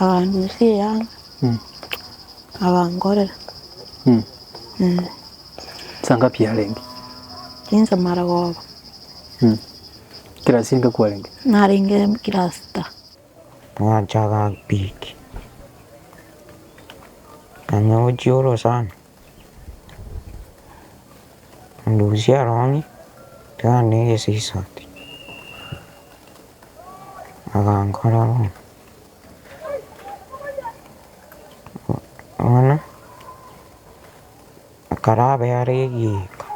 Akanyosia eyanga, Mm. akankorera. Mm. Mm. Saa ngapi yarenge? Inse mara koba, Mm. Kera singa kwarenge? narenge class ta. Nganchaga piki, nganyochia orosana. Ndusie Aroni, tari negesisati, agankora bono, bono ekero abe are egiika,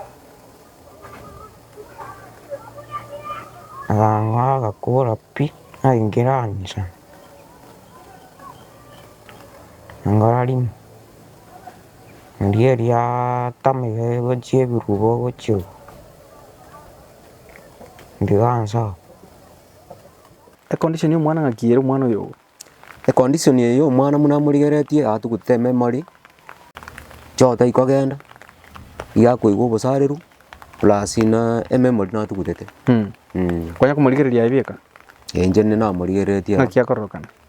agakora agakora pi, naingira inche, nankora rimo. Erio eriaata maiga chie ebirubo gochia oo, ndigansa oo. Econdition ya omwana ng'aki ere omwana oyo oo? Econdition eye ya omwana buna morigeretie iga togotete ememory, choo tai kogenda, iga akoigwa obosareru plus buna ememory natogutete. Kwanya komorigereria aye bieka? Inche ninde namorigeretie. Naki akororokana?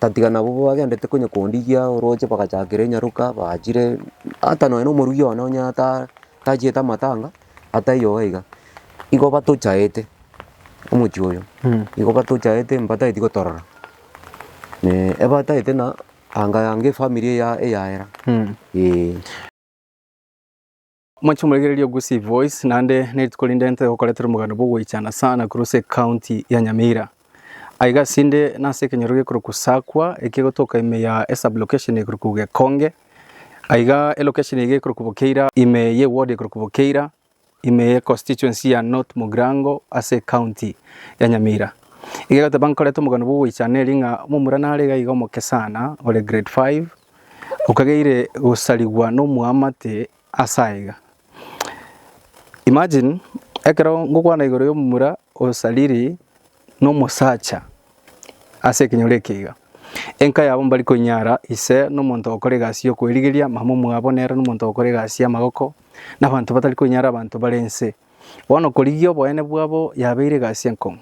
Tatiga nabo bagendete konya kondigia oroche bagachakera enyaroka baachire, ata nonya na omorugi one onye ata tachiete amatanga, ata eyoo iga, igo batochaete omochie oyo, igo batochaete mbataeti gotorora ebataete na anga yanga efamiri eya eyaera eeh. Mwanche moregererie Ogusi Voice naende nerituko rinde ntoe gokoretera omoganda bw'ogoichana sa Nakuru ase ekaunti ya Nyamira. Aiga asinde nase ekenyoro gekorokwa Sakwa ekegotoka ime ya esublocation ekorokwa Gekonge. Aiga elokesheni eye gekorokwa Bokeira ime ye ward ekorokwa Bokeira ime ye constituency ya North Mugirango ase ekaunti ya Nyamira. Iga egoteba nkorete omoganda bw'ogoichana eri ng'a momura nare iga iga omoke sana ore grade five Okageire gosarigwa nomwamate ase aiga. Imagine ekero ngokwana igoro yomomura osariri nomosacha ase ekenyoro eke iga. Enka yabo mbari koinyara ise nomonto okora egasi yokoerigeria, mama omwabo nere nomonto okora egasi yamagoko, na abanto batari koinyara abanto bare inse. Bono korigia oboene bwabo yabeire egasi enkong'u.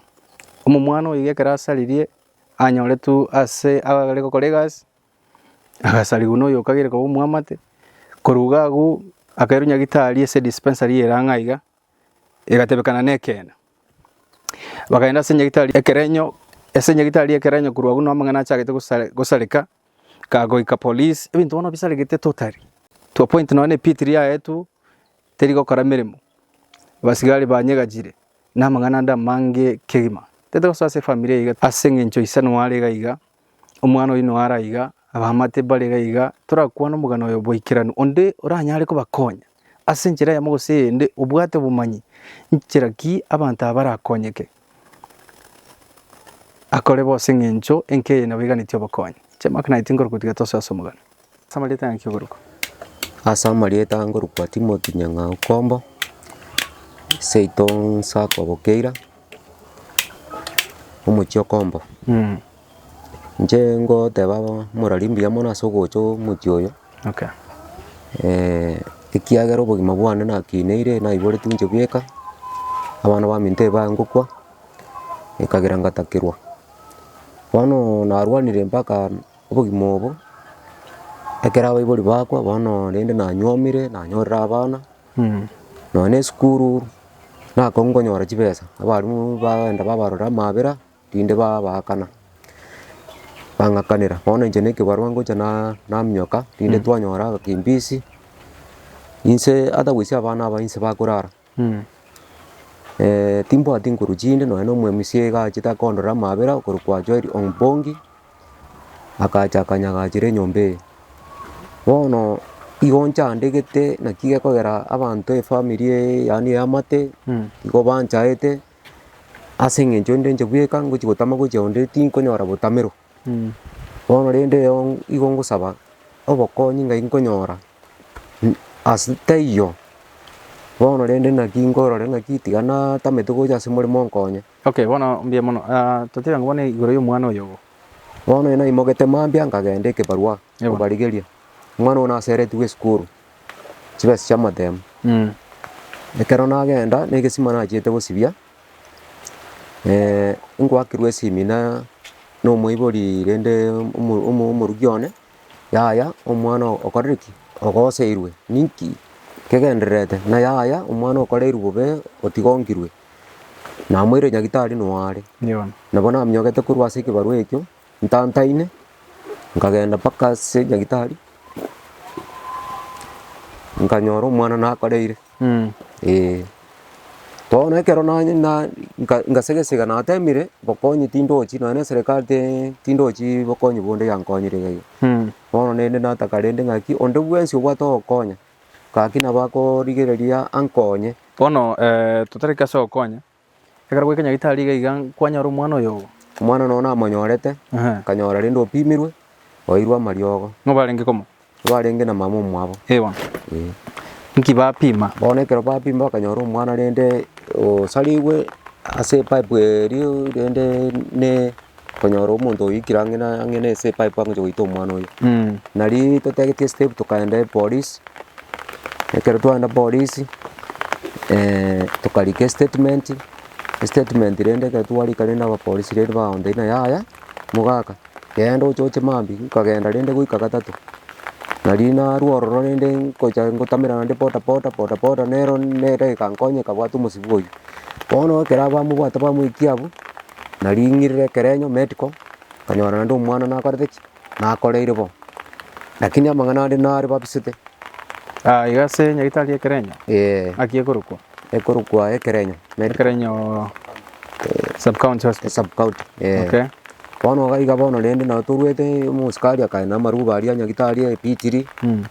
Omomwana oyo iga ekero asaririe anyoretwe ase abare gokora egasi. Agasarigwa noyo okagire koba omwamate, korwa iga agwo akairwa nyagitari ase dispensary ere ang'e aiga, egatebekana nekeene. Bakaenda ase nyagitari ekerenyo, ase nyagitari ekerenyo korwa agwo amang'ana achagete gosare gosareka, kagoika police, ebinto bono bisaregete totally, to a point nonye na epit riria yaetwe teri gokora emeremo, abasigari banyegachire na amang'ana ande amange kegima, tete gosoa ase efamiri iga ase eng'encho isano are iga iga. Omwana oyio noyo ara iga, abamate mbare iga iga, torakwane omogano oyo bwaikeranu, onde oranyare kobakonya ase enchera eyemo gose eyende, obwate obomanyi nchera ki abanto aba barakonyeke akore bonsi eng'encho enke eye nabo eganetie obokonyi. Chiamaka naye tinkorukotia gatoso ase omogano. Ase amarieta y'Angaki Ogorokwa? Ase amarieta ngorokwa Timothy Nyang'au Kombo, seito Nsako Bokeira, omochie o Kombo. Inche ngoteba morari mbuya mono ase ogocha omochie oyo, Okay. ekiagera obogima bwane nakineire naiboretie inche bweka, abana baminto ebae ngokwa, ekagera ngatakerwa. Bono narwanire mpaka. Obogima obo, ekero abaibori bakwa bono rende nanywomire, nanyorire abana, nonya na esukuru, nakorwa nkonyora chibesa, abarimu bagenda babarorera amabera, rinde babaakana, bang'akanera, bono inche na ekebarwa ngocha na- naminyoka, rinde twanyora agakimbisi, inse otherwise abana aba inse bakorara. Timbwati nkoru chinde nonya nomwemusia iga achete akondora amabera okorokwa Joel Ompongi, akacha akanyagachera enyomba eye. Bono igo nchandegete naki gekogera abanto efamiri eye yaani eamate, igo banchaete, ase eng'encho nde inche bweka ngochi gotama gochia onde tinkonyora botamero. Bono rende igo ngosaba obokonyi ngai nkonyora, ase taiyo bono rende naki nkorora naki tiga natamete gocha ase omoremo onkonye. Okay bono mbuya mono, totebe bono igoro ya omwana oyo ogo. Bono ere naimogete mambia nkagenda ekebarua kobarigeria, omwana ogo naseretigwe esukuru, chibesa chi'amatemo. Ekero nagenda na egesima nachiete gosibia. ngoakirwe esemina na omoibori rende omo- omo- omoruki one, yaya omwana okorire ki? Ogoseirwe, ninki kegendererete? Ng'a yaya omwana okoreirwe bobe otigokirwe, namoire nyagitari noyo are. Nabo naminyokete korwa ase ekebarwa ekio. ntantaine, nkagenda mpaka ase nyagitari, nkanyora omwana nakoreire eh. Bono ekero nanye na- nka- ngasege esege natemire, bokonyi tindochi nonya na eserekari tee tindochi bokonyi bonde yankonyire iga iga. Bono naende nataka rende ng'aki onde bwensi obwate ogokonya, gaki nabo akorigereria ankonye. Bono totariki ase ogokonya, Ekero gwekenya gitari iga iga kwanyora omwana oyo ogo. Omwana nonya namonyorete, Ehe. nkanyora rende opimirwe, oeirwe amariogo, Ng'o barenge komo? barenge na mama omwabo. Eh bono. Eh. Nki bapima? Bono ekero bapima bakanyora omwana rende osarigwe ase epipe erio rende ne. Okonyora omonto oikire ang'e na ang'e na ase epipe agocha goita omwana oye. Nari totagetie step tokaenda epolisi, ekero twaenda polisi tokarika estatement, estatement rende ekero twarika rende abapolisi rende bagontebia ng'a yaya mogaka genda ochoche mambia, nkagenda rende goika gatato. Nari narwo ororo rende ngocha ngotamera naende bodaboda, bodaboda nero nere egakonyeka bwate omosibwa oyio. Bono ekero abamobwate bamoikia abwo. naring'irire ekerenyo medical, nkanyora naende omwana nakorete ki? nakoreire bo. Lakini amang'ana ande nare babisete. Ah, iga ase nyagetari y'ekerenyo, Eeh, naki ekorokwa? ekorokwa ekerenyo medical Ekerenyo sub-county hospital. esub-county, eeh. Okay. Bono iga iga bono rende nabo toruete omosikari akae namaruba aria nyagetari ebitiri, Mm.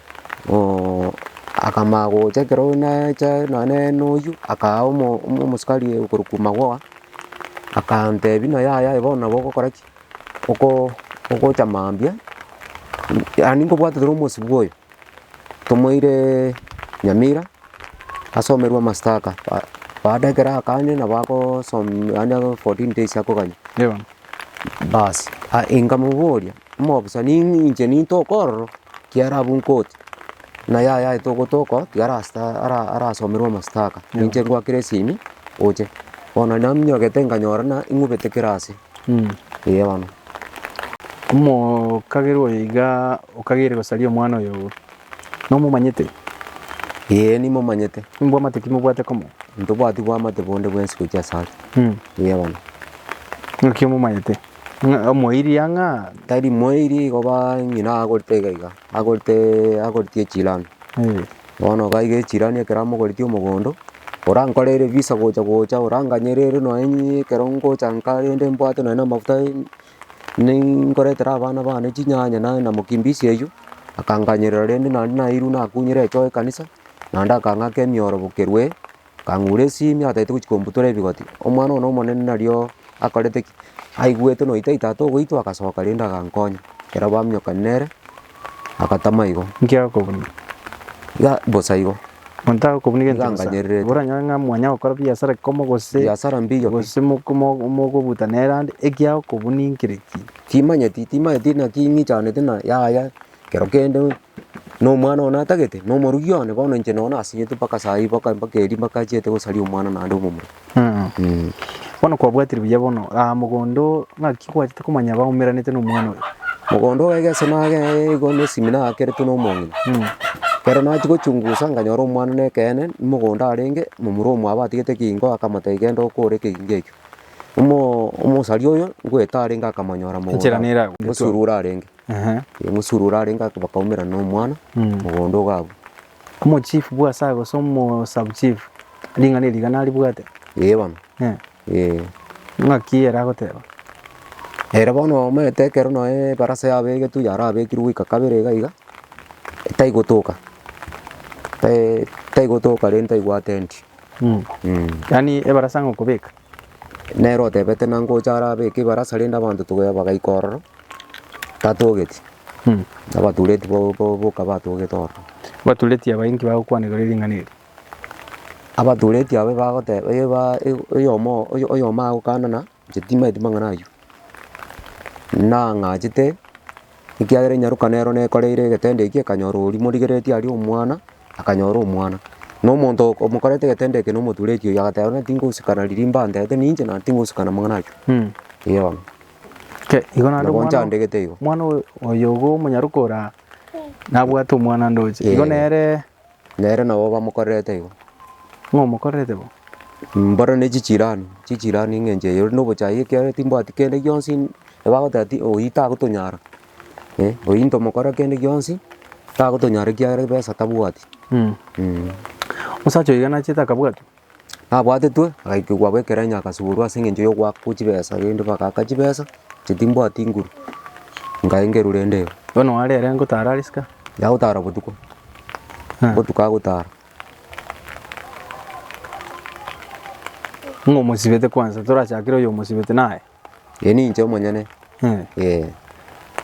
ooh, akamanya gocha ekero nacha nonye noyio, akaa omo- omo- omosikari okorokwa Magoha, Akantebi na yaya aye bono nabo ogokora ki? Oko- ogocha mambia, yaani nkobwate toro omosibwa oyo, tomoire Nyamira asomerwe amastaka, ba- baada ekero akanywa nabo agosom yaani ago fourteen days akoganywa, baas inkamoboria. omobisani inche ninto okororo, kiara abwo nkoti, na yaya aye togotoka tiara sta ara- arasomerwe amastaka, ninche ngoa kera esimi oche. Bono naminyogete nkanyora ng'a ing'ubete kera ase, eeh bono. Omokagera oyo igaa okagere gosaria omwana oyo obo, nomomanyete? Eeh nimomanyete. Mbwamate ki mobwate komo? Ntobwati bwamate bonde bwensi gochia ase are, eeh bono. Naki omomanyete? Ng'a omoiri ang'aa tari moiri igo ba ng'ina agorete iga iga, agoretee agoretie echirani. Bono iga iga echirani ekero amogoretie omogondo, orankorere visa gocha gocha oranganyerere nonye inye ekero ngocha nka rende mbwate nonye na amafuta nini nkoretera abana bane chinyanya nonye na mokimbisi eywo, akanganyerera rende naende nairwe nakunyire echoa ekanisa, naende akang'aka emiorobokerwe. Akang'ura esimi atagete gochia kombutora ebigoti, omwana one omonene nario akorete ki? Aigwete noita ita togoitwa agasoka rende agankonya. Ekero baminyokania nere, agatama igo. Nki agokobuna? Iga bosa igo. Monto agokobuna egento bosa. Nganyererete. Oranyore ng'a mwanya gokora biasara ekomo gose. Biasara mbiyo pi. Gose moko- mo- mokobuta nere ande, eki agokobuna inkire ki? Timanyeti, timanyeti naki ing'ichanete na yaya. Ekero kende nomwana oye natagete, na omorokia one bono inche nonye nasinyete mpaka saa hii mpaka mpaka eeri mpaka achiete gosaria omwana naende omomura. Mh. Bono kwabwatire buya bono, ah, mogondo oo, ng'aki kwachete komanya baumeranete na omwana oyo? Mogondo bw'egeso nagende igo na esimi nakeretwe na omong'ina. Ekero nachia gochungusa nkanyora omwana na ekeene, mogondo arenge, momura oyo mwabatigete ekegingo akamotebia genda okore ekegingo ekio. Omo- omosari oyo, ngoeta arenge akamonyora mogondo. Enchera nere agwo. Mosurwa arenge. Erio omosuri oria arenge aka- bakaumera nomwana mogondo iga abwo. Omochief bwa asa gose omosabuchief ring'ana eri iga naribwate? Ee bono, Eh, ee. ng'aki ere agoteba? Ere bono omanyete ekero nonye ebarasa yabegetwe yarabekirwe goika kabere iga iga, taigotoka, tai- taigotoka rende taigwa atendi. Yaani ebarasa ng'okobeka? nere otebete nangocha are abeke ebarasa rende abanto tobe bagaika ororo, tatogeti, abatureti bo- bo- boka batogete ororo. Abatureti aba inki bagokwana igoro ya ring'ana eri? Abatureti aba bagoteba eba e- oyomo oyo- oyomo agokanana inche timanyeti mang'ana aywo, nang'achete ekiagera enyaruka nero nekoreire egetendo ekio ekanyora oria morigeretie aria omwana. akanyora omwana, na omonto o- omokorete egetendo eke na omotura ekiogi, agateba bono tingosikana riria imba antebete ninche naende tingosikana amang'ana aywo, eeh bono. Ke- igo naende Nabo omwana- nchandegete igo. omwana oyo- oyogo omonyaroka oraa nabwate omwana ndoche, igo Eh. nere Nere nabo bamokorerete igo. ng'o omokorerete bo? Mboro ne chichirani, chichirani ng'encho eye ore na obochayi ekiagera timbwati kende gionsi, ebagoteba ti oyi tagotonyara, eh, oyio ntomokora kende gionsi, tagotonyara ekiagera ebesa tabwati. Mm. Mm. Omosacha oyo igana achiete akabwatwa. Nabwatetwe, agaikigwa abwo ekerenyo agasuborwa ase eng'encho ya ogoakwa chibesa rende bagaaka chibesa, inche timbwati nguru, nkaengerwa rende igo. Bono are ere ngotara are isiko. Yagotara botuko, Ah. ngotuka agotara. Ng'a omosibete kwansa, torachakere oyo omosibete naye. Ee, ninche omonyene. Eh. Ee.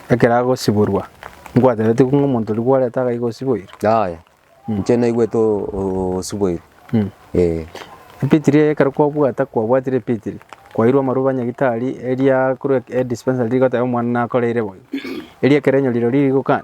Ekero agosiborwa, nkwatenetie ng'a omonto ribu oreta agaiga osiboirwe? Yaya. Inche naigwete o- o- osiboirwe. Mm. Ee. Ebitiri eye ekero kwabwata kwabwatire ebitiri, kwairwe amaroba nyagitari eria korwa e- dispensary rigoteba omwana nakoreire boigo. Erio ekero enyorire riri rigokana,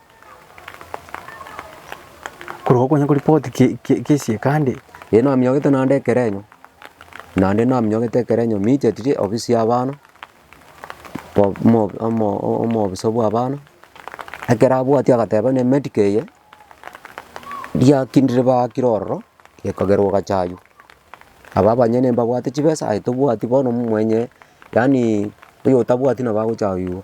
Korwa okonya koripoti kesiekande. Ee naminyokete naende ekerenyo, naende naminyokete ekerenyo michetirie ofisi y'abana, bo- mo- omo- omobisa bw'abana, ekero abwatia agateba buna emedica eye, riakindire baakire ororo, gekagerwa ogachaywa. Aba abanyene mbabwate chibesa, aye tobwati bono mwenye. Yaani oyotabwati nabo agochayoigwa,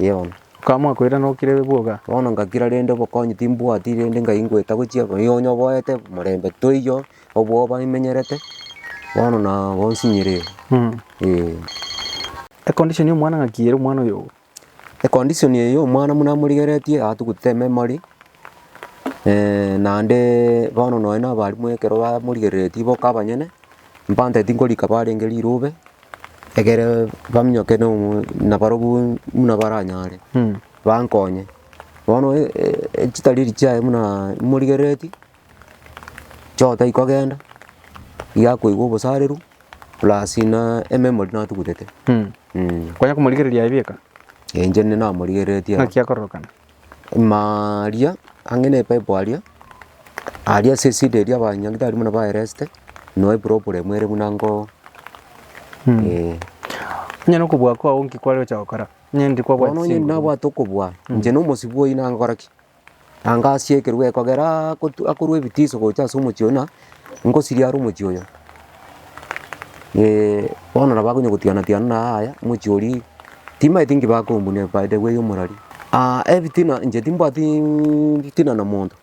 ee bono. Baka mwakoira nokire bwoga. Bono ngakira rende obokonyi timbwati rende ngai ngoeta gochia bono nigo nyoboete morembe toiyo, obwoba imenyerete, bono na bonsi nyireo, ee. Econdition ya omwana ng'aki ere omwana oyo. Econdition eyio omwana buna amorigeretie atugutete ememory, naende bono nonye na abalimu ekero bamorigereretie boka abanyene, mpatete tinkorika barenge rirobe, egere baminyoke na omo nabarobwo buna baranyare bankonye. Bono chitari echi chiaye buna imorigereretie. Chota ikogenda, igakoigwa obosareru plus na ememory natugutete. Mh. Kwanya komorigereria aye bieka? Enche nde namorigereretie iga. Naki akororokana? Ima aria, ang'e na epipe aria, aria ase esida eria abanyagitari buna baereste, no eproblem ere buna nko eh. Onye nokobua kwao nki kware gocha gokora? Onye ndiri kwabwati Bono onye chinguru. nabwate okobua, inche na omosibwa oyio nagokora ki? Na ngaasia ekerogo ekogera akotu- akorwa ebitiso gocha ase omochie oyio, na ngosirie are omochie oyo. bono nabo akonya gotiana tiana na yaya, omochie oria timanyeti nki bakombuna ebaida eye ya omorari. ebitina inche timbwatiiii fitina na monto,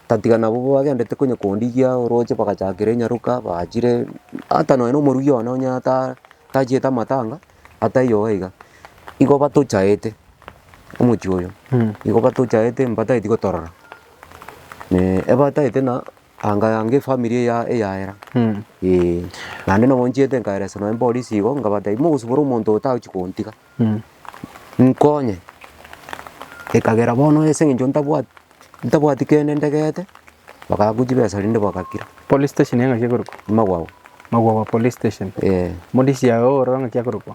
tatiga nabo bagendete konya kondigia oroche bagachakera enyaroka, baachire ata nonya na omoruia one onye ata- tachiete amatanga. Ataiyo igo iga, igo batochaete omochie oyo, igo batochaete mbataeti gotorora, ebataete na anga yange efamiri eya eyaera eeh. Naende nabo nchiete nkaeresa nonye eborisi igo nkabatebia mogosibore omonto otagochi kontiga, nkonye, ekagera bono ase eng'encho ntabwati. ntabwati kende ndegete, bakaakwa chibesa rende bagakira. Police station yaye ng'aki ekorokwa? Magwago. Magwago police station. Eh. Modisi yaye ororo ng'aki akorokwa?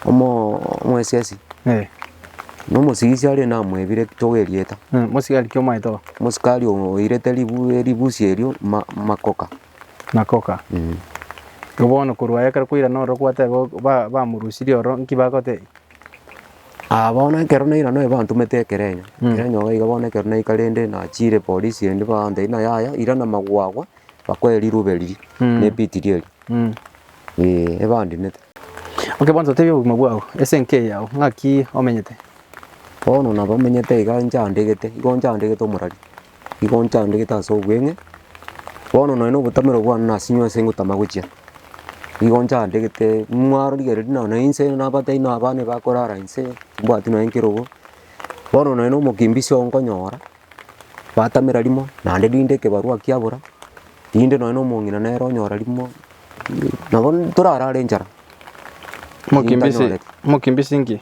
Omo omwesiasi. Eh. Na omosigisi are namwebire ekitogo erieta. Eh, mosigari ki omaete oo? Mosikari oo oirete ribu eribusi erio ma makoka. Makoka. Mm. Igo bono korwa aye ekero kwairana ororo kwateba ba bamorusirie ororo, nki bagotebia? Aa bono ekero nairana oye bantomete ekerenyo, ekerenyo iga iga bono ekero naika rende nachire polisi endi bantebia ng'a yaya irana magwe agwo bakoe rirube riria na ebitiri eria eeh ebandinete. Okay bono totebie obogima bwao, ase enka eye yao ng'aki omenyete? Bono nabo menyete iga nchandegete, igo nchandegete omorari. Igo nchandegete ase obweng'e, bono nonye na obotamero bwane nase inwe nase ngotama gochia. Igo nchandegete, nimwarorigereria nonye na inse na abatai na abana bakorara inse, mbwati nonye nkerogo, bono nonye na omokimbizi oo nkonyora, batamera rimo, naende rinde ekebarua kiabora, rinde nonye na omong'ina nere onyora rimo, nabo torarare enchara. Mokimbizi, Ntanyorete. mokimbizi nki?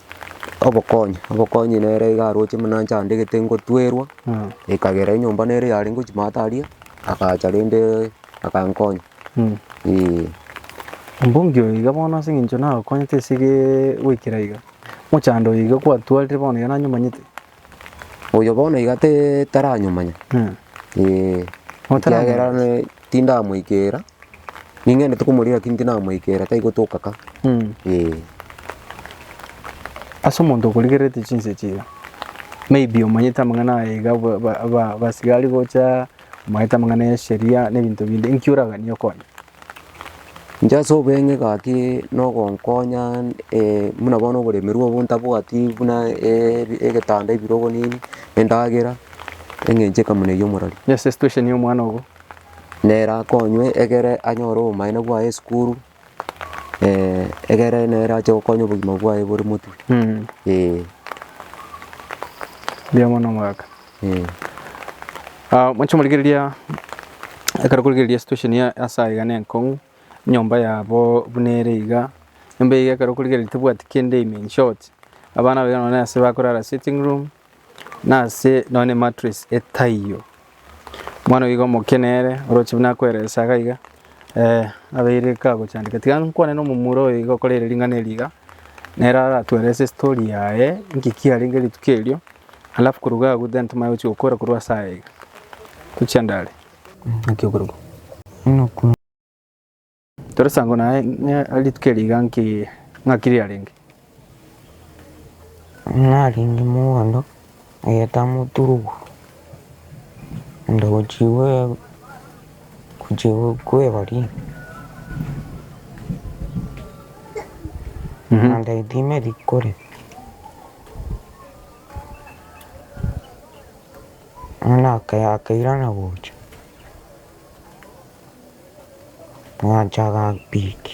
Obokonyi, obokonyi nere iga aroche buna inche andegete ngotwerwa, ekagera enyomba nere yare ngochimata aria, agacha rende akankonya eeh. Ombungi oyo iga bono ase eng'encho nagokonyete esege goikera iga, mochando oyo iga kwatwarire bono iga nanyomanyete. Oyo bono iga taranyomanya, ee. Ekiagera tindamoikera, ning'endete komoria lakini tinamoikera, tari gotoka ka, ee. Ase omonto okorigererete chinsa echi iga, maybe omanyete amang'ana aye iga abasiga ari gocha, omanyete amang'ana ya esheria na ebinto binde, inki oraganie okonye? Inche ase obeng'e gaki nogonkonya buna bono oboremerwa obo ntabwati buna egetanda ebirogo nini, endagera, eng'encho ekamuna eywo omorori. Yes situation ya omwana ogo. Nere akonywe egere anyore obomaene bwaye esukuru egere nere ache gokonya obogima bwaye bore motwe, eeh. Mbuya mono omogaka. Mwanche morigereria ekero korigereria situation ya ase aiga ne enkong'u, enyomba yabo buna ere iga, enyomba eywo ekero okorigereria tebwati kende ime in short, abana abaiga nonye na ase bakorara sitting room, na ase nonye na emattress etaiyo. Omwana oyiga omoke nere oroche buna akoeresa iga iga. Eh, abeire kagochandeka tiga nkwane nomomura oyo iga okorere ring'ana eri iga, nere aratwere ase story yaye inki kiarenge rituko erio, alafu korwa iga agwo then timanye gochia gokora korwa ase aya iga. Tochia ndare. Naki okorokwa? Inokwa. Tore sango naye ng'a rituko eri iga nki ng'aki riarenge? Narenge mogondo egento amoturugu, ande gochigwa gochigwa kwebori, ande etime rikore, bono akairana gocha, agacha agapiki.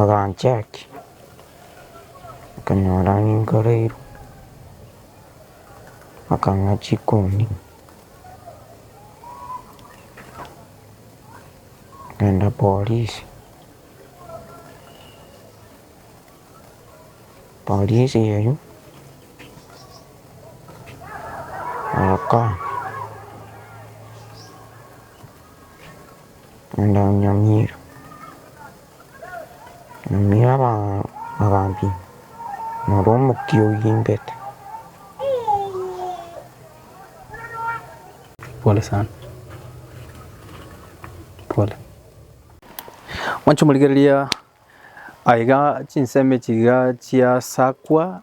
Aganchaki, akanyora ninkoreirwe, akang'a chikoni, akaenda porisi, porisi eyio agakana. Naende onyamire abambinto, noro omokia oyimbete. Pole sana. Pole. Mwanche morigereria aiga chinsemo echi iga chiasakwa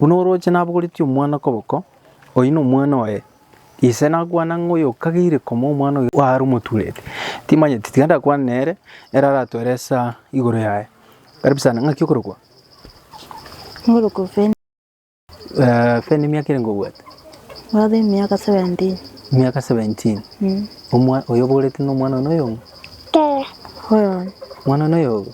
Buna orooche nabogoretie omwana okoboko, oyio nomwana oye. Ise nakwana ng'a oyokageire koma omwana oyo are omotureri. Timanyeti, tiga ndakwane nere, ere aratwere esaa igoro yaye. Karibisana, ng'aki okorokwa? Ngorokwa Feni. Eh, Feni emiaka ere ngobwate? Ngwate emiaka 17. Emiaka 17. Mm. Omwa- oyo obogoretie nomwana one oyomo? Oyo. Mwana one oyogo?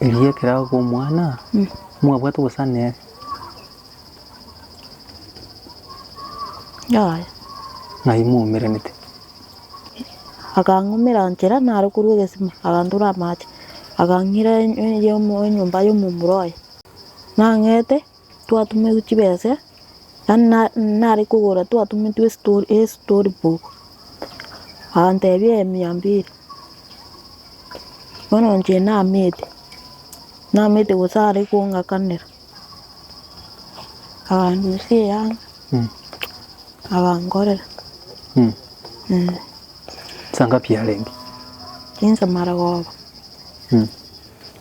Erio ekero agoka omwana, mwabwate ogosana ere? Yaya. Ng'ai mwaumeranete? Akang'umera nchera naro korwa egesima, agantora amache, akang'ira enyomba y'omomura oye. Nang'ete Twatumetwe chibesa, yaani na- nare kogora twatumetwe esto- estory book, agantebia eye mia mbili, bono inche namete, namete gose are kong'akanera, aganyesia eyanga agankorera eh. Saa ngapi yarenge? Chinsa maragoba.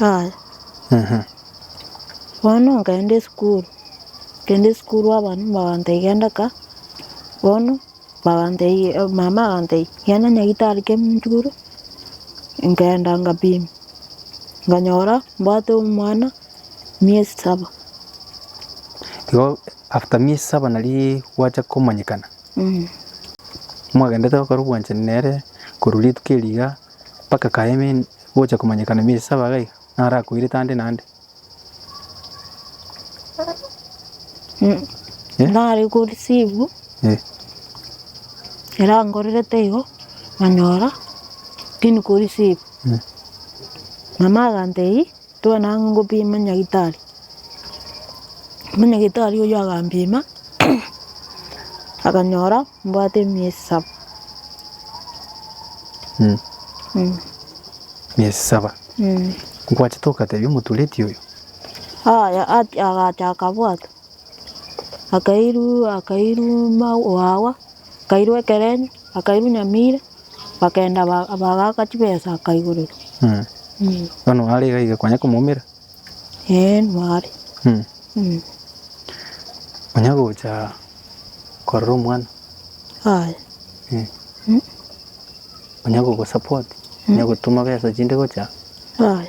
Yaya, Ehe. bono nkaenda esukuru, nkaenda esukuru abana mbabantebia genda ka, bono mbabantebia mama agantebia genda nyagitari kia munchuguru, nkaenda ngapimwa, nkanyora mbwate omwana miesi saba. Igo after miesi saba naria gwacha komanyekana. Moagenderete gokora obwanchani nere korwa rituko erio iga mpaka kaeme gocha komanyekana emiezi saba iga iga, naro akoirete ande na ande? Eh? Nare ko receive Eh. erankorerete igo nganyora tindi ko receive. Mama agantebia. Togende ang'e ngopime nyagitari, nyagitari oyio agampima, akanyora mbwate emiezi saba. Miezi saba, nkwachete ogatebia omotureti oyo? Yaya, agacha akabwata, akairwa akairwa mawawa, akairwa ekerenyo, akairwa nyamira. Bakagenda ba- bagaaka chibesa akaigoreria. Mm. Mm. Bono are iga iga kwanya komoumera. Ee, nware. Mm. Mm. Onya gocha korora omwana. Aye. Mm. Mm. Onya gogosupport. Onya gotuma besa chinde gocha. Aye.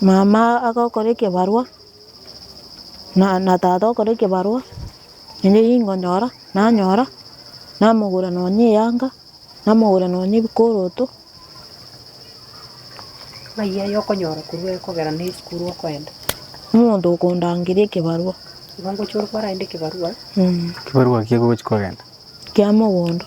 mama agokora ekebarwa na na tata okore ekebarwa naende nigo nkonyora, nanyora namogora nonya eyanga, namogora nonya ebikoroto, ng'ai aya okonyora korwa ekogera na esukuru okoenda? omonto okondangeria ekebarwa. Igo ngochia ore kwarenta ekebarwa. Ekebarwa ekiya gochia kogenda. Kia mogondo.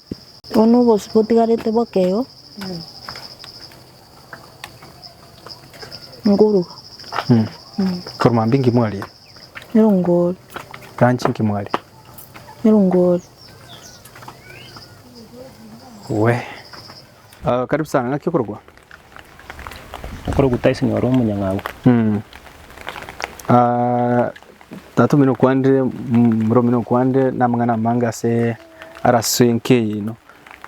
Bono obosio botigarete bokeo ngoruga. Korwa mambia inki mwaria? Erongori. Lunch inki mwaria? Erongori. Wee. Ah karibu sana, ng'aki okorogwa? Okorogwa Tyson ore omonyang'au. Mm. Ah, tata omino okwande, mm, mura omino okwande na amang'ana amange ase ara ase enka eyino.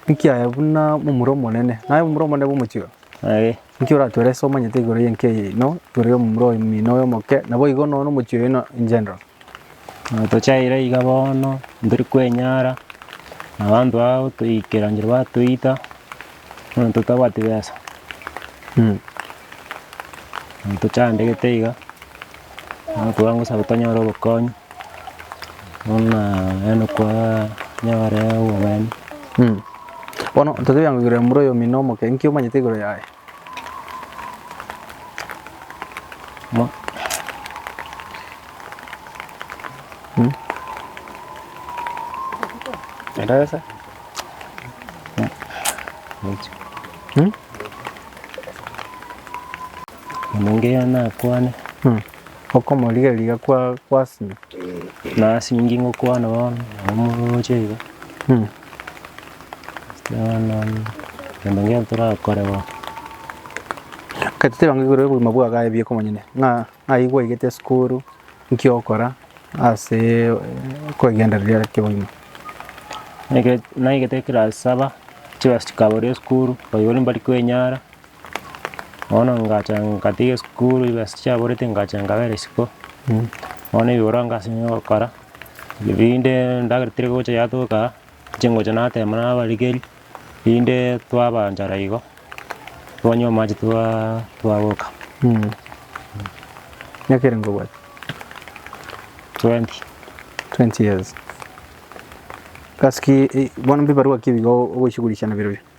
Nkiaya buna momura omonene. Naye momura omonene bwa omochie oyo. Aye. Inki oratwere ase omanyete igoro y'enka eye ino, igoro y'omomura omino oyo omoke, naboigo nonya nomochie oyo ino in general? Tochaire iga bono tori kwenyara na abanto aba gotoikera nchera batoita bono totabwati besa. Tochandegete iga. Nokobua ngosabe tonyore obokonyi, buna yaani konyore obobani. Bono totebe bwango igoro ya momura oyo omino omoke, inki omanyete igoro yaye? Mo- Enderesa. Omongeria nakwane, Okomorigereria kwa gwasina. Nasingi ngokwana bono, nabo moroche iga. Bono egento nge'to torakore bono. Gati tiga igoro y'obogima bwa Gaye bie komonyene, ng'a ng'ai gwaigete esukuru, nki okora ase kwegenderera kegima. Naigete ekerasi saba, chibasi chikabora esukuru, oigo nimbari kwenyara. Bono ngacha nkatiga esukuru chibesa chiaborete ngacha nkabera isiko, bono ebiborwa nkasimeka gokora, rinde endagera teri gocha yatoka aa, nche ngocha natema na abarikeri, rinde twabanchara igo, twanywa amache twaaaa twagoka. Miaka ere nkobwate? Twenty. Twenty years. Gasi ki bono mbibarwaki ebiya ogochi korisia na biroria?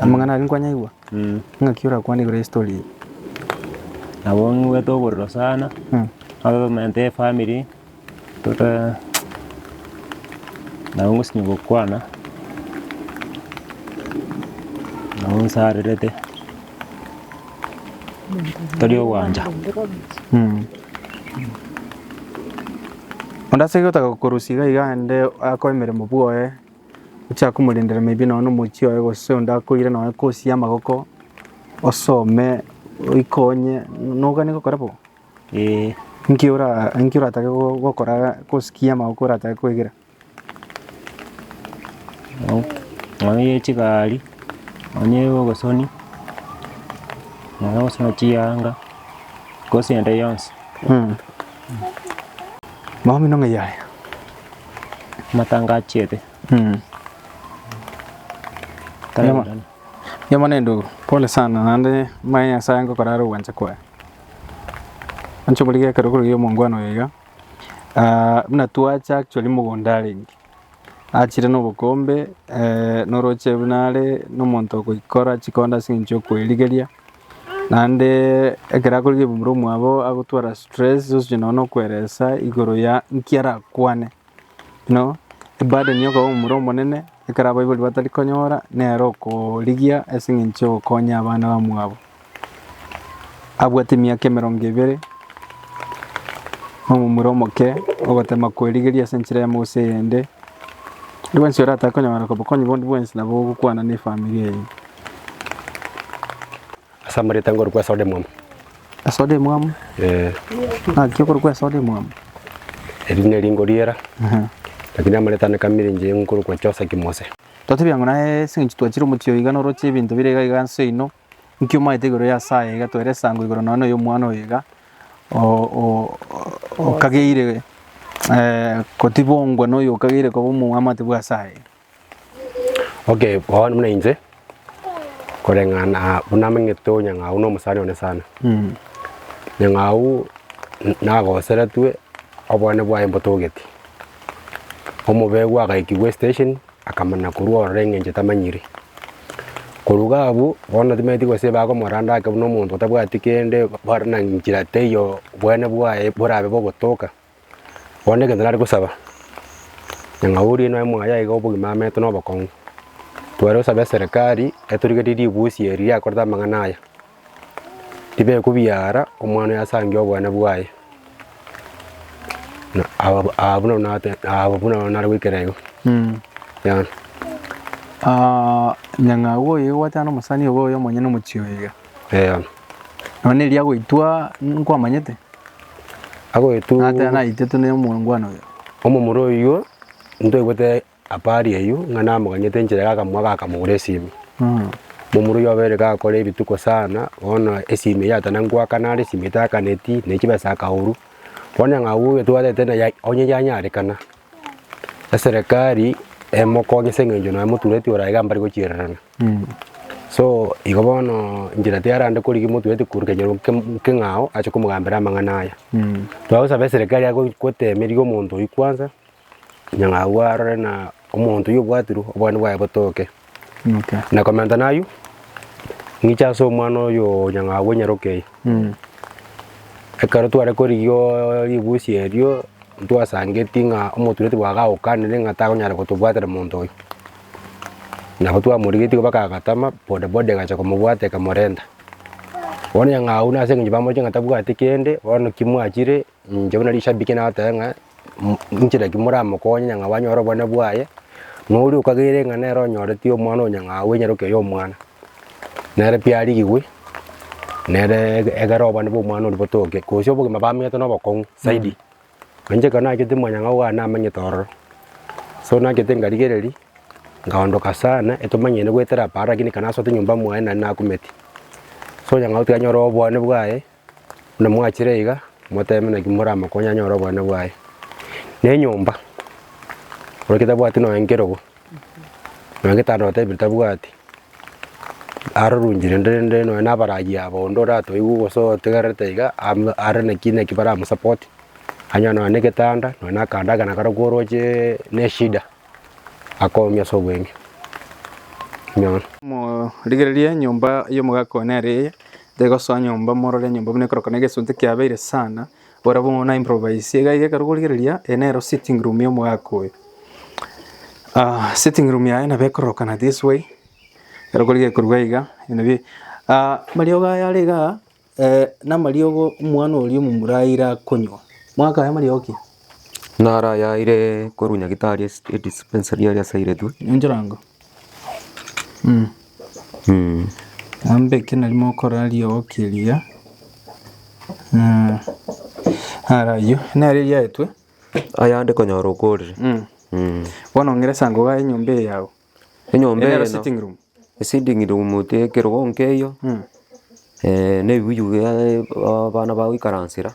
Amang'ana aria nkwanyaigwa, Mm. ng'aki orakwane igoro y'estori eye. Nabo ng'wete oborero sana, Mm. abaminto ya efamiri, tota nabo ngosinywa gokwana, nabo nsarerete, tari ogwancha. Mm. Onde ase gotaka korusia iga iga aende akoe emeremo bwoye. Gochia komorendera maybe nonye nomochie oye gose onde akoire nonye course y'amagoko osome oikonye nogani gokora bo? Ee. Inki ora inki oratake go- gokora course ki y'amagoko oratake koegera? Nonye ye chigari, nonye ye obosoni, nonye ogosona chiyanga, course ende yonsi. Mambia buna ng'a yaya. Amatanga achiete. Nigo bono endugu, pole sana naende mbae Nyasae ngokora aro ogwancha kwaye. Inche omorigi ekero korogio omongwana oyo iga, buna twacha actually mogondo arenge, achire na obokombe, na oroche buna are na omonto ogoikora chikondo ase eng'encho yo koerigeria, Naende ekero akorire ebumura omwabo agotwara stress sonsi nonye na okweresa igoro ya nki arakwane. Buna eburden ya okoba omomura omonene ekero abaibori batari konyora nere okorigia ase eng'encho ya ogokonya abana bamwabo. Abwate emiaka emerongo ebere na omomura omoke ogotema kwerigeria ase enchera eyemo gose eyende, oyio bwensi oratake konyora obokonyi bondi bwensi nabo ogokwana na efamiri eyio. Ase amareta ngorokwa ase ore omwamo. Ase ore omwamo? Ee. Naki okorokwa ase ore omwamo? Erio nerio nkoriera, lakini amareta ane kabere inche nkorokwa Chosa Kimose. Twatebia ng'a naye ase eng'encho twachire omochie oyo iga noroche ebinto bire iga iga inse oino, nki omaete igoro y'ase aya iga toere esango igoro nonya noyo omwana oyo iga okageire kotibongwa noyo okageire koba omwamate bw'ase aya iga. Okay, bono buna inche, koreng'ana buna amang'ete o Nyang'au na omosani one sana. Nyang'au n- nagoseretwe obwane bwaye mbotogete. Omobegwa agaikigwa esitesheni, akamana korwa ororo eng'encho tamanyire. Korwa iga abwo, bono timanyeti gose bagomoranda ake buna omonto otabwati kende, bare na nchera teiyo obwane bwaye borabe bogotoka. Bono egento nare gosaba, nyang'a oria oino aye mwaye iga obogima amerete na obokong'u, tware gosaba eserekari etorigererie ribusi eri riakorete amang'ana aya, ribekwe biara omwana oyo asangie obwane bwaye, na ababo abwo nabo nate abwo nabo nare goikera igo yabo. Nyang'au oyo egwete ande omosani obo oyo omonyene omochie oyo iga. Eeh. Nonya eria agoitwa nkwamanyete? Agoitwa. Ng'a tena naitetwe ne omongwana oyo. Omomura oyio ntoigwete habari eyio ng'a namoganyete enchera ya akamua gakamogora esimi. Momura oyio obeire gakora ebituko sana bono esimi eyio ata nengwakana are esimi etakaneti ne chibesa akaurwa. Bono eng'au oyo tobwatete naye ai onye yanyarekana eserekari emokonye ase eng'encho nonya motureti oraiga mbare gochirerana. So igo bono inche na tiarande korigia motwe ati koruta nyarombe kemo- keng'ao ache komogambera amang'ana aya. Twagosaba eserekari age gochi- goteemeria omonto oyio kwansa, nyang'a agwo arore na omonto oyio obwatirwe obwani bwaye botoke. Na komenta na aywo, ng'iche ase omwana oyoo nyang'a agwo nyaroke eye. Ekero tware korigioo ribusi erio, ntwasangeti ng'a omotureti bwagagokanire ng'a takonyara gotobwatera monto oyo. Nabo twamorigetie goba kagatama, boda boda egacha komobwata ekamorenta. Bono onye ng'a buna ase eng'encho bamoche ng'a tabwati kende, bono ki mwachire, inche buna rishabiki natebe ng'a mm inchera ki moramokonye onye ng'a bwanyora obonene bwaye, na oria okageire ng'a nere onyoreti omwana oyo nyang'au enyaroke y'omwana, nere pi arigigwe, nere ege- egerobani bw'omwana oria botoke, gose obogima bamenyete na obokong'u zaidi. Nainche ekero nagachete mwanyang'au one amanyete ororo, so nagachete nkarigereria, nkaondoka sana, etomanyeti goetera apa rakini ekero nasoete nyomba mwane naende nakumeti. So nyang'au tanyora obwane bwaye, buna mwachire iga, motebe naki moramokonye anyore obwane bwaye. Na enyomba, ore tabwati nonya nkerogo. Nonya getari notebire tabwati, arorunjire rende nonya na abaragi abo onde oratoigwe gose otegererete iga amo are naki naki baramosapotie, anyo nonya na egetanda, nonya na akanda ake nako koroche na eshida, akoumia ase obweng'e buna bono. Morigererie enyomba y'omogaka one are eye, tegosoa nyomba morore enyomba buna ekoroka na egesunte kiabeire sana. Barabwo ng'a na improvise iga iga ekero okorigereria eye nero sitting room y'omogaka oyo. Ah, sitting room yaye nabo ekororokana this way, ekero okorigereria korwa iga nabio ah, amariogo aya are igaa eh, na amariogo omwana oria omomura aire akonywa. Omogaka aye amariogo ki? Naro ayaeire korwa nyagitari ase edispensary aria asairetwe. Ninchorango. Naende ekio nari mokoraria oo keria, ara ayio nere eriagetwe. Ayande konyora okorire. Bono ng'ire sa ngogae enyomba eye yao. Enyomba eye. Ere sitting room. Esitting room ote ekerogo nkeiyo, na ebibuyu bia abana bagoikaransera.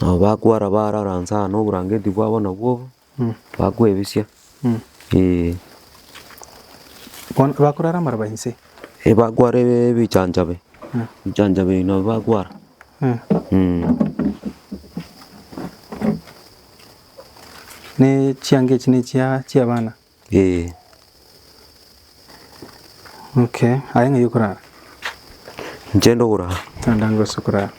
Nabo bakwara barara nse aa noborangeti bwabo nabwo obo, bakwebisia, eeh. Bono bakorara amaroba inse? Eeh bakwara ebi- ebichanchabe, ebichanchabe ebi nabio bakwara. Ne chianga echi ne chia chiabana? Ee. Okay, aye ng'ai okorara? Inche inde okorara. Naende ango ase okorara.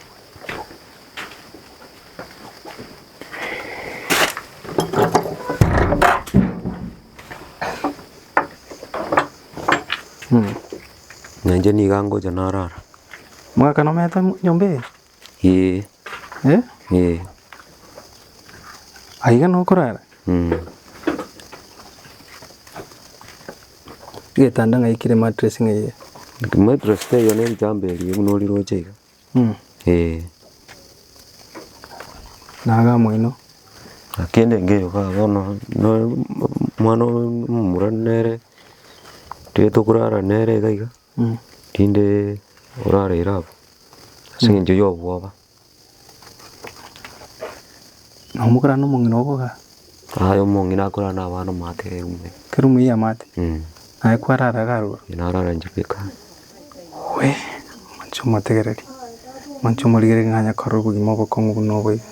Na inche nigo angocha narara. Mwakana omete nyomba eye? Ee. Eh? Ee. Aiga nokorara? Mm. Getanda ng'ai kire mattress ng'ai iga? Mattress teiyo ne ritambaa erio buna oriroche iga. Mm. Ee. Na aga moino? Kende ngeyo iga bono na omwana omomura nere toyete okorara nere iga iga. Rinde orareire abwo ase engencho y'obwoba. Na omokarani omong'ina oboga. Aye omong'ina akorara nabana omate erume. Erume y'amate. Naye kwarara iga aroro. Naye narara inche bweka. Owe, manche omotegereri, manche omorigererie ng'a anyakore obogima obokong'u buna obo iga.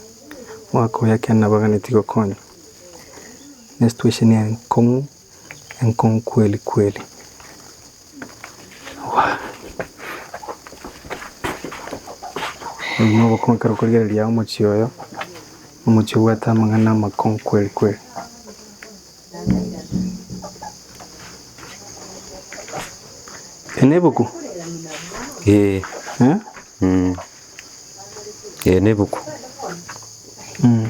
Omwaka oyo ekiagera nabaganeti gokonywa. Ne esituesheni enkong'u. Enkong'u kweli kweli. Oyo nobokong'u ekero okorigereria omochie oyo, omochie obwate amang'ana amakong'u kweli kweli. Eri nebuku? Ee, Eh? mm. Ee, nebuku. Mm.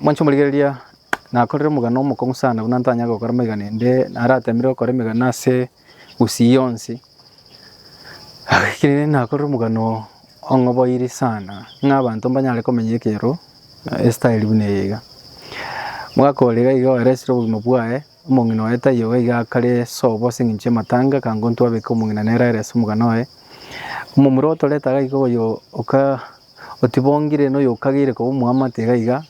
Mwanche omorigereria nakorire omogano omokong'u sana buna ntanyare gokora amaiga naende naratemire gokora emegano ase gusii yonsi. Ekero nakorire omogano ong'oboiri sana ng'a abanto mbanyare komenya ekero estyle buna eye iga. Omwaka ore iga iga oeresire obogima bwaye, omong'ina oye taiyo iga iga akare sobo ase eng'encho y'amatanga akangwa intwe abeke omong'ina nere aerese omogano oye. Omomura otoreta iga iga oyo oka Otibongire noyokagire koba omwamate iga iga,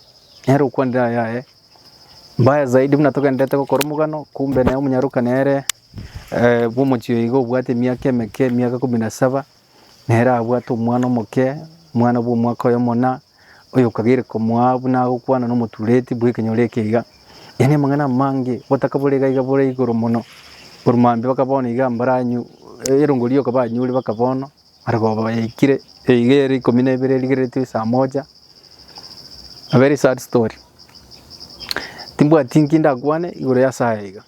nere okwanire ayaye. Mbaya zaidi buna togendererete gokora omogano, kumbe nere omonyaroka nere eh, bw'omochie oyo iga obwate emiaka emeke, emiaka ikomi na saba, nere abwate omwana omoke, omwana bw'omwaka oyomo na, oyokagire komoa buna agokwana nomotureti bw'ekenyoro eke iga. Yaani amang'ana amange, obotaka bore iga iga bore igoro mono. Boru mambia bakaba bono iga mbaranyu, erongo rioka banyure bakaba bono. Arabwo bayaikire eyiga ere ikomi na ibere erigeretwe esaa moja. A very sad story. Timbwati nki ndakwane igoro y'ase aya iga.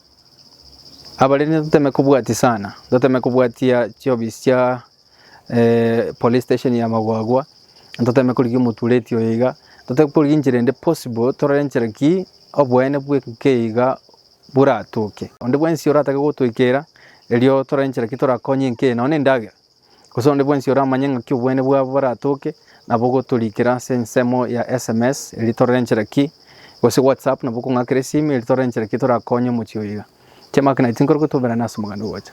Abarende toteme kobwatia sana, toteme kobwatia chiofisi chia eh, police station ya Magwagwa, toteme korigia omotureti oyo iga, toteme korigia enchera ende possible, torore enchera ki oboene bw'etuko eye iga boratoke. Onde bwensi oratake gotoikera, erio torore nchera ki torakonye enke, nonya nendagera, gose onde bwensi oramanye ng'aki obwene bwabo boratoke, nabo gotorikera ase ensemo ya sms, erio torore nchera ki, gose WhatsApp, nabo okong'akera esimu, erio torore nchera ki torakonye omochie oyo iga. Chiamaka naye tinkorwa gotoberana ase omoganda ogocha.